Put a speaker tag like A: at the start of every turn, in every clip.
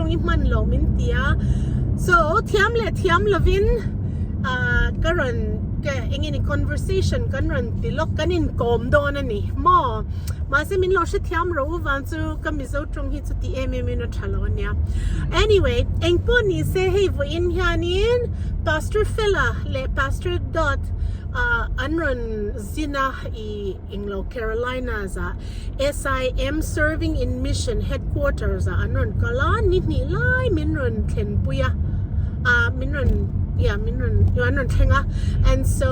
A: rawng i hman lo min ti a so thiam leh thiam lovin ah ka rawn ka eng nge ni conversation kan rawn ti lawk kan inkawm dawn a ni maw mahse min lo hre thiam ro vang chu ka Mizo tawng hi chu ti em em in a tha lo a nia anyway engpawh ni se hei vawiin hianin pastor Fela leh pastor Dawt ah an rawn zin a ih. Englo Carolinas ah SIM Serving in Mission Headquarters ah an rawn kal a, ni hnih lai min rawn thlenpui a, ah min rawn yeah min rawn yeah an rawn thleng a and so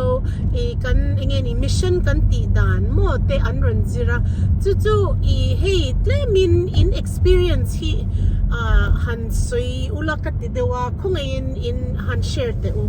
A: i kan eng nge ni mission kan tih dan maw te an rawn zir a, chu chu i hei tlem in in experience hi ah han sawi ula ka ti deuh a, khawngaihin in han share teh u.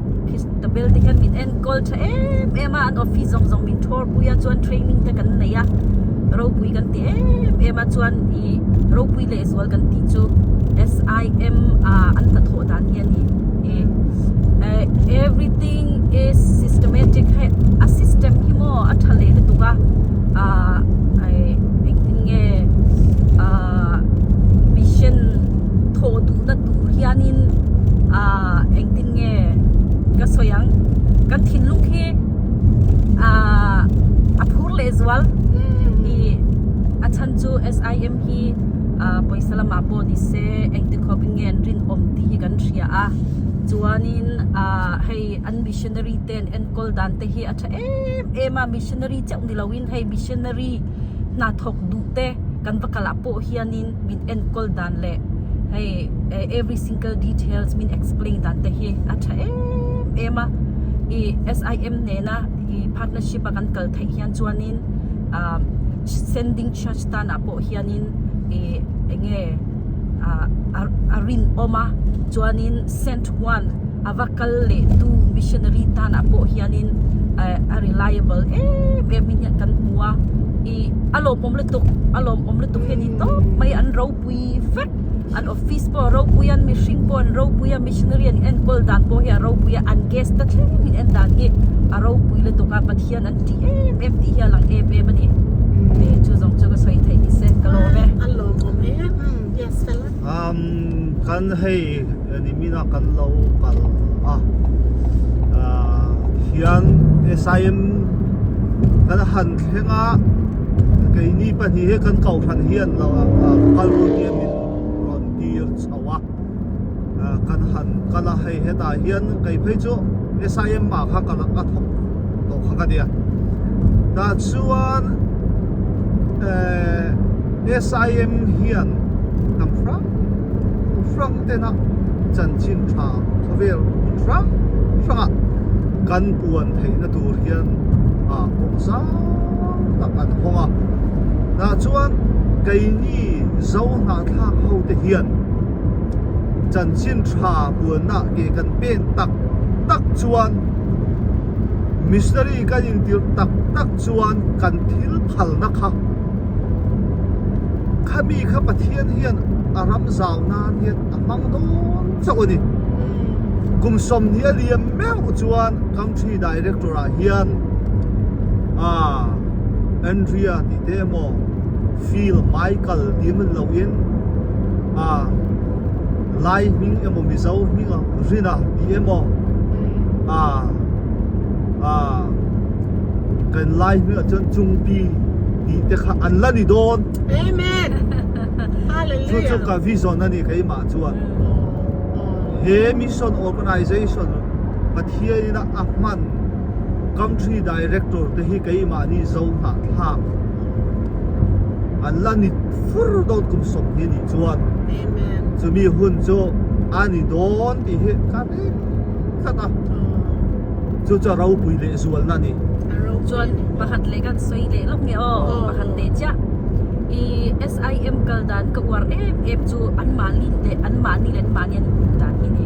B: Ka bel te hian min enkawl tha em em a, an office zawng zawng min thawr pui a, chuan training te kan neih a, ropui kan ti em em a, chuan i ropui lehzual kan tih chu SIM a an ta thawh dan hi a ni e, everything is systematic hei a system hi maw a tha leh lutuk a ah engtin nge ah mission thawh duhna tur hianin ah engtin nge. Nge ka sawi ang, kan thinlung khi a phur leh zual i a chhan chu SIM hi pawisa lamah pawh ni se engtikhawp in nge an rinawm tih hi kan hria a. Chuanin hei an missionary ten enkawl dan te hi a tha em em a, missionary chauh ni loin hei missionary hnathawk duhte kan va kalh ah pawh hianin, min enkawl dan leh hei every single details min explain dan te hi a tha em em a i SIM nena i partnership a kan kal theih hian chuanin ah sending charge tana pawh hianin i enge ah a rinawm a chuanin send chuan a va kal lehtu missionary tanah pawh hianin a reliable em em hi hian kan hmu a i a lawmawm lutuk a lawmawm lutuk hi a ni tawp mai an ropui vek an office pawh a ropui a an mihring pawh an ropui a missionary an enkawl dan pawh hi a ropui a an guest te thleng min en dan hi a ropui lutuk a pathian an tih em em tih hi a lang em em a ni e chu zawng chu ka sawi theih ni se ka lawm e.
A: Umm kan
C: hei eni mina kan lo kal a ah hian SIM kan han thleng a keini pahnih hi kan ko hran hi an lo kal rawh nia min rawn tir chho a kan han kal a hei hetah hian kei phei chu SIM ah kha ka la ka thawk. tawh kha ka nia tah chuan eh sim hian kan hrang hrang ten a chanchin tha khawvel hrang hrang a kan puan theih na tur hian ah pawh zau tak an hawng a tah chuan keini zo hnahthlak ho te hian chanchin tha puan na ke kan pen tak tak chuan missionary kan intir tak tak chuan kan thil phalna kha khami kha Pathian hian a ram zau nan hian a hmang dawn chauh a ni kum sawmhnih a liam meuh chuan country director ah hian ah Andrea tih te emaw Phil Michael tih a hman loin ah Lai hming emaw Mizo hming ah Rina tih emaw ah ah kan Lai hming ah chuan Chungpi tih te kha an la ni dawn Amen
A: Hallelujah chu chu ka
C: vision a ni keimah chuan he mission organisation Pathian in a hman country director te hi keimah ni zo hnah thlak an la ni fur deuh tum sawm hi anih chuan chumi
A: hun chu
C: a ni dawn tih hi ka hre tlat a chu chu a ropui leh zualna a ni
B: chuan pakhat leh
C: kan
B: sawi leh lawk nge aw pakhat leh chiah i SIM kal dan ka uar em em chu an mahni leh an mahni leh an mahni an input dan hi ni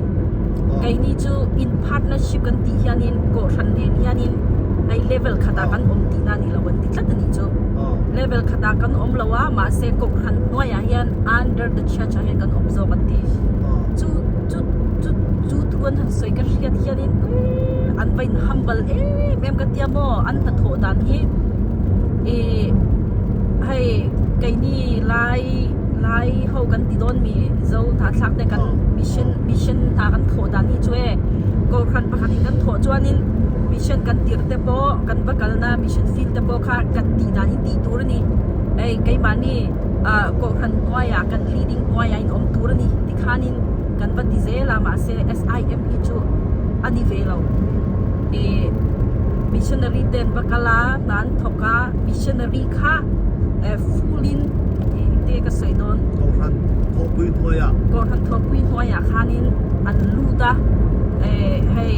B: kei ni chu in partnership kan tih hianin kawhhran nen hianin hei level khatah kan awm tihna ni lo kan ti tlat. tak a nih chu level khat ah kan awm lo a mahse kawng han hnuai ah hian under the church ah hian kan awm zawk an ti chu chu chu chu thu an han sawi ka hriat hian in an va in humble em em ka tia maw an hnathawh dan hi ih hei keini lai lai ho kan ti dawn mi zo hnahthlak te kan mission mission hna kan thawh dan hi chu e kawr hran pakhat in kan thawh chuan in mission kan tirh te maw. pawh kan va kalna mission field te pawh kha kan tih dan in tih tur a ni. Hei, keimahni ah kawhhran kuai ah kan leading kuai ah in awm tur a ni ti khan in kan va ti zel a, mahse SIM hi chu a ni ve lo. Ih, missionary ten va kal a, hna an thawk a, missionary. kha eh full in engte ka sawi dawn Kohhran thawhpui hnuaiah Kohhran thawhpui
C: hnuaiah khanin an lut a eh hei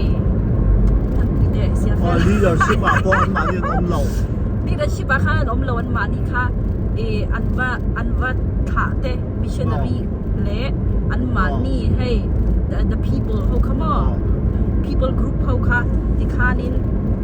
C: enkanpui deh Siafe a leadership ah pawh anmahni an awm lo leadership
B: ah khan an awm lo anmahni kha eh an va an va thlah te missionary leh anmahni hei the people ho kha maw people group ho kha tikhanin.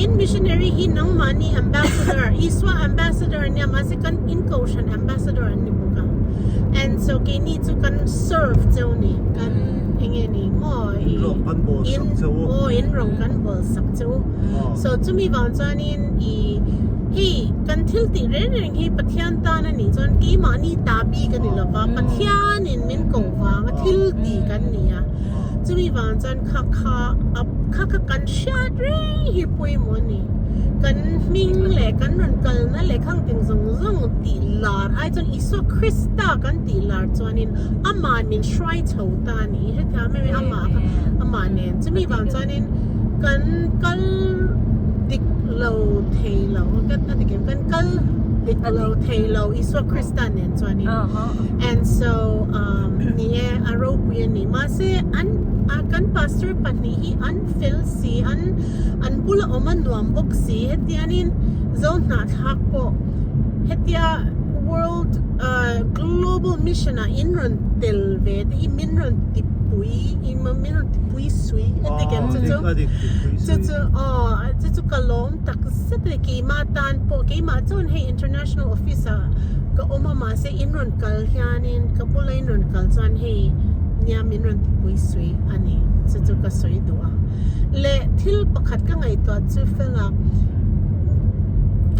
A: In missionary hi nangmah ni ambassador Isua ambassador nia mahse kan in kohhran ambassador an ni bawk a and so keini chu kan serve cheu ni kan enge ni maw in rawn kan bawl sak cheu aw in rawn kan bawl sak cheu so chumi vang chuan in i hei kan thil tih reng reng hi Pathian tan a nih chuan keimahni ta bik a ni lova Pathian in min koh vang a thil tih kan ni a chumi vang chuan. kha kha a kha kha kan hriat rei hi pawimawh a ni kan hming leh kan rawn kalna leh khangtin zawng zawng tih lar ai chuan Isua Krista kan tih lar chuanin amah min hruai chho ta a ni hetiang mai mai amah kha amah nen chumi vang chuanin kan kal dik lo thei lo kan a ti kan kal dik lo thei lo Isua Krista nen chuanin and so um ni e a ropui a ni. Mahse an kan pastor pahnih hi an fel si an an bula awm a nuam bawk si hetian in zo hnahthlak pawh hetia world global mission ah in rawn tel ve te hi min rawn ti pui min rawn ti pui sui hetik em chu chu chu aw chu chu ka lawm tak zet e keimah tan pawh keimah chuan hei international office ah ka awm a mahse in rawn kal hianin ka bula in rawn kal chuan hei nia min rawn ti pui sui a ni chu chu ka sawi duh a leh thil pakhat ka ngaihtuah chu fela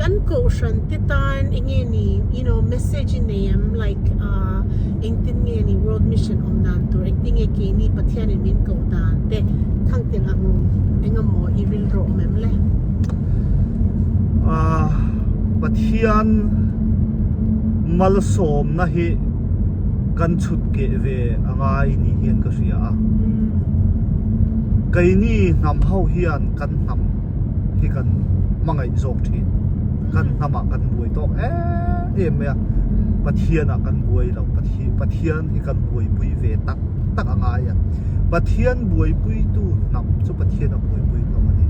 A: kan kohhran te tan eng nge ni you know message i nei ang like ah engtin nge ni world mission awm dan tur engtin nge keini pathianin min koh dan te thang tel ang eng emaw i rilru awm em le
C: pathian malsawmna hi kan chhutkeh ve a ngai ni hian ka hria a, keini hnam ho hian kan hnam hi kan hmangaih zawk thin, kan hnam ah kan buai tawk em mai a, Pathian ah kan buai lo, Pathian hi kan buaipui ve tak tak a ngai a, Pathian buaipui tu hnam chu Pathian a buaipui hlawm a ni,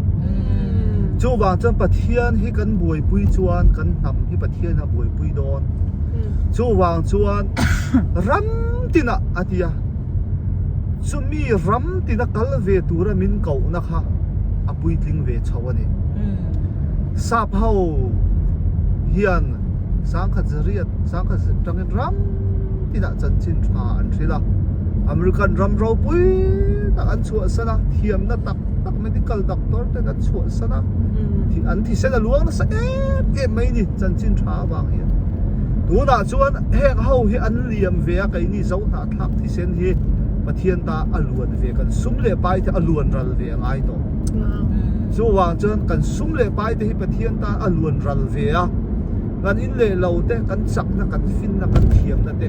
C: chuvang chuan Pathian hi kan buaipui chuan kan hnam hi Pathian a buaipui hlawm. pui dawn chuvang chuan ram tinah a ti a chumi ram tina kal ve tura min kohna kha a puitling ve chho a ni sap ho hian sangkhat zariat sangkhat zet tangin ram tinah chanchin tha an thrilh a American ram ropui tak an chhuahsan a thiamna tak tak. Medical doctor ten a chhuah san a, an thisen a luang nasa em em mai ni chanchin tha avang hian. Tunah chuan heng ho hi an liam ve a keini zo hna thlak thisen hi Pathian ta a luan ve kan sum leh pai te a luan ral ve a ngai tawh. Chu vang chuan kan sum leh pai te hi Pathian ta a luan ral ve a, kan in leh lo te, kan chakna, kan finna, kan thiamna te,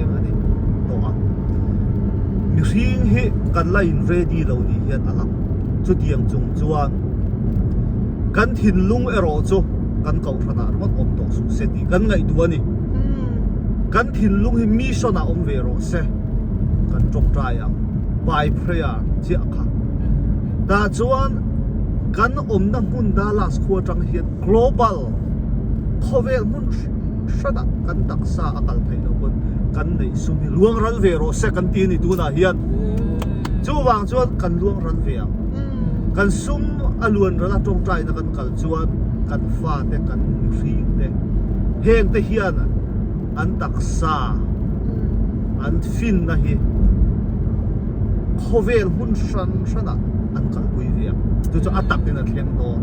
C: eng a ni tawh a, mihring hi kan la in ready lo ni hian a lang, chutiang chung chuan kan thinlung erawh chu kan kohhran ah rawt awm tawh suh se tih kan ngaihtuah a ni, kan thinlung hi mission ah awm ve rawh se kan tawp try ang by prayer chiah kha, tah chuan kan awmna hmun Dallas khua tang hian global khawvel hmun hri. hra dah kan taksa a kal theih loh pawn kan neih sum hi luangral ve rawh se kan ti a ni tunah hian chuvang chuan kan luangral ve ang kan sum a luanrala tawngtaina kan kal chuan kan fate kan nihringte hengte hian an taksa an finna hi khawvel hmun hran hranah an kalpui ve ang chu chu a takin a thleng dawn.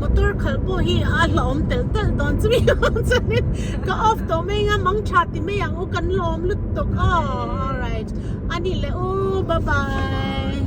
A: motor khalh pawh hi a hlauhawm telh telh dawn chumi ang chuan ka off tawh mai anga mang tha ti mai ang u kan lawm lut tawk aw alright ani leh u bye bye